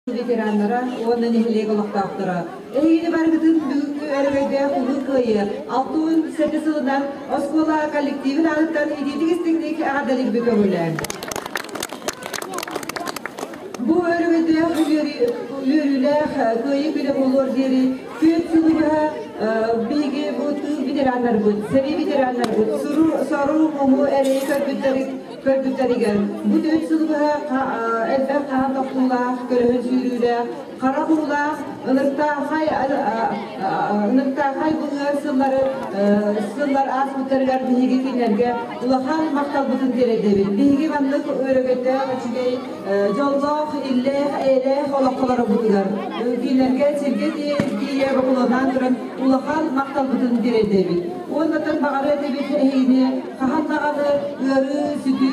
ветераннара уонна нэһилиэк олохтоохторо эйиини барыгытын бүгүҥҥү өрөгөйдөөх Улуу Кыайыы алтыһын сэргэ сылынан оскуола коллективин аатыттан идиитик истиҥник эҕэрдэлиирбит көҕүлээн бу өрөгөйдөөх үөрүүлээх кыайыы күнэ буолуор диэри күөн сылы быһа биһиги бу тыыл ветераннарбыт сэрии ветераннарбыт сору сору муму эрэйи көрбүттэрин көрбүттэригэр бу түһүн сылы быһа элбэх хаан тохтуулаах, көрөһүн сүүрүүлээх, харах уулаах, ыныртаахай ыныртаахай быһыар сыллары сыллар ааспыттарыгар биһиги кинилэргэ улахан махталбытын тиэрдэбит. Биһиги маннык өрөгөйдөөх, үчүгэй, дьоллоох, иллээх, эйэлээх олохтолорбутугар кинилэргэ сиргэ тиийэ бокулуоннаан туран улахан махталбытын тиэрдэбит. Уонна тын баҕарыа этибит эһигини хаһан даҕаны ыарыы-сүдүү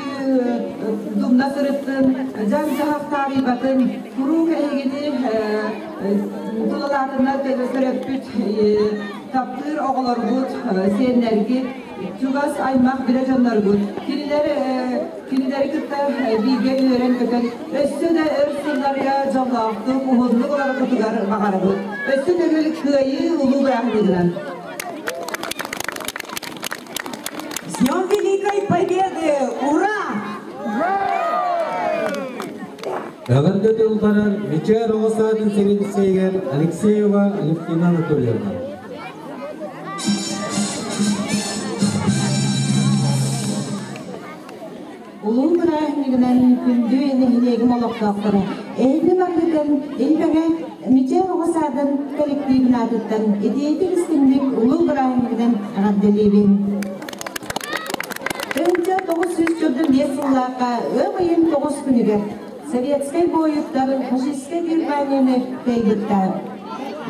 думна сырытын, дьаһах таарыйбатын куруук эһигини тулалаатыннар төрөппүт таптыыр оҕолоргут, сиэннэргит, чугас аймах билэ дьонноргут. Кинилэр кинилэри кытта бииргэ үөрэн-көтөн өссө да өр сылларга дьоллоохтук, уһуннук олороргутугар баҕарабыт. Өссө төгүл кыайыы улуу бырааһынньыгынан! С Днем Великой Победы! Ура! Эҕэрдэ тылларар Мичээр оҕо саатын сэбиэдиссэйигэр Алексеева Левкина Анатольевна. улуу бырааһынньыгынан күндү нэһилиэгим олохтоохторо эһиги баргытын Илбэҥэ Мичээр оҕо саадын коллективин аатыттан идиэйэтик истиҥник улуу бырааһынньыгынан эҕэрдэлиибин Тынча тоҕус сүүс сырдым биэс сыллаахха ыам ыйын тоҕус күнүгэр советскай буойуттар фашистскай Германияны тайбыттар.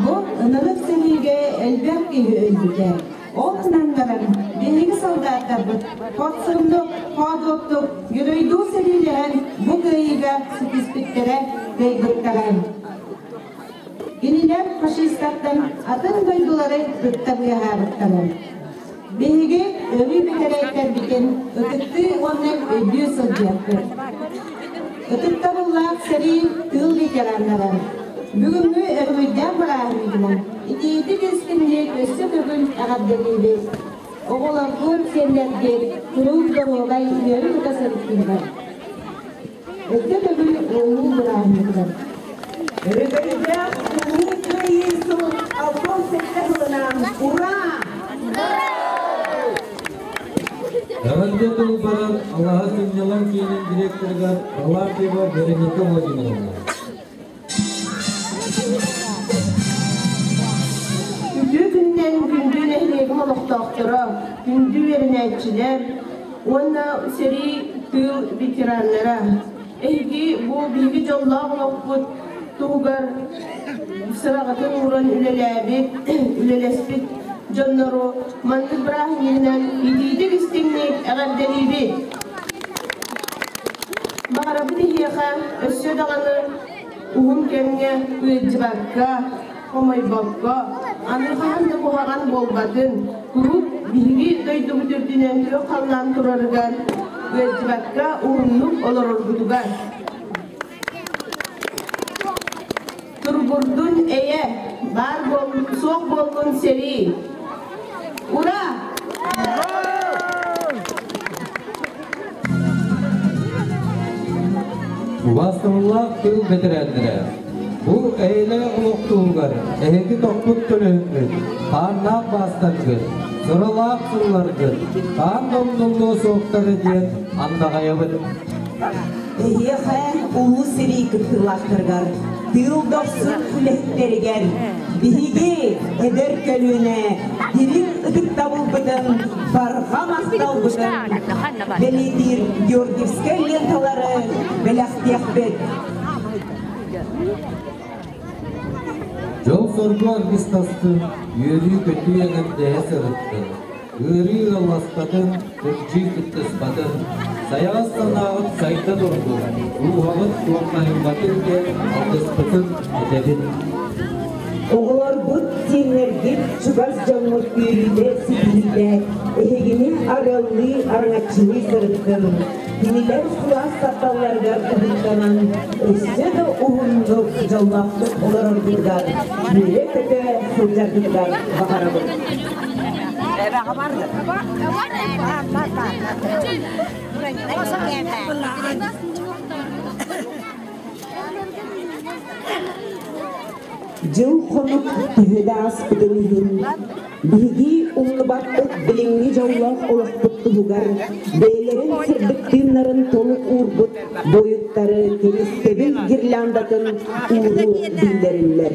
Бу ынырык сэриигэ элбэх киһи өлбүтэ. Ол гынан баран, биһиги солдаттарбыт подсобнук, хоодуоттук Ньуройдуу сэриилэһэн бу кыайыыга ситиспиттэрэ дойдуктара. Кинилэр фашистартан атын дойдулары ытта быыһаабыттара. Биһиги өрүү бүтэрэйтэрбитин ытыктыы уонна өйдүү сылдьыахпыт. Ытыктабыллаах сэрии тыл ветераннара! Бүгүҥҥү өрүһүйдээх бырааһынньыгынан итиитик истиҥник өссө төгүл эҕэрдэлиибит! Оҕолоргун, сиэннэргин куруук доруобай үөрү тута сырыттыылар. Өссө төгүл ыллыы бырааһынньыгынан. Өрөгөйдөөх Улуу Кыайыы сыл албан сэттэ сылынан ура! Эҕэрдэ тыл баран Алаһа Мунньалаҥ киинин директорыгар Балаатьева Вероника Владимировна. Үтүө күнүнэн күндү нэһилиэгим олохтоохторо, күндү үөрэнээччилэр уонна сэрии тыыл ветераннара! Эйги бу бииги дьоллоох олохпут туһугар сыраҕытын ууран үлэлээбит, үлэлэспит дьоннору маннык бырааһынньыгынан итиитик истиҥник эҕэрдэлиибит. Баҕарабыт иһиэхэ өссө даҕаны уһун кэмҥэ ыалдьыбакка, хомойбокко, аны хаһан да куһаҕан буолбатын, куруук биһиги дойдубут үрдүнэн күөх халлаан турарыгар, ыалдьыбакка уһуннук олорорбутугар. Турбурдун эйэ, баар буол, суох буоллун сэрии, Бастыҥлаах тыл бэтэрээннэрэ, бу эйэлээх олох туһугар эһиги тохпут төлөһүҥҥүт, хааннаах маастаргыт, сыралаах сылларгыт хаан домнумнуо суохтара диэн андаҕайабыт. Эһиэхэ Улуу сэрии кыттыылаахтарыгар, тыыл дохсун үлэһиттэригэр биһиги эдэр көлүөнэ дириҥ ытыктабылбытын, барҕа махталбытын бэлиэтиир Георгиевскай ленталары бэлэхтиэхпит. Дьол-соргу аргыстастын, үөрүү-көтүү эҕэрдэһэ сырытты. Ыарыы ыалласпатын, кырдьыы кыттыспатын, сайаҕас санааҕыт сайда турдун, рууһаҕыт туомнаһыҥҥатын диэн алгыспытын этэбин. Оҕолорбут, сиэннэргит, чугас дьоҥҥут үөрүүтэ ситиһиилээх, эһигини арыаллыы араҥаччыны сырыттын. Кинилэр кылаас тапталларыгар уһуктанан, өссө да уһуннук, дьоллоохтук олороргутугар, үөрэ-көтө сылдьаргытыгар баҕарабын. Дьыл-хонук төһө да ааспытын иһин, биһиги умнубаппыт билиҥҥи дьоллоох олохпут туһугар бэйэлэрин сырдык тыыннарын толук уурбут бойуттары кэскэбил гирляндатын ууруу биллэриллэр.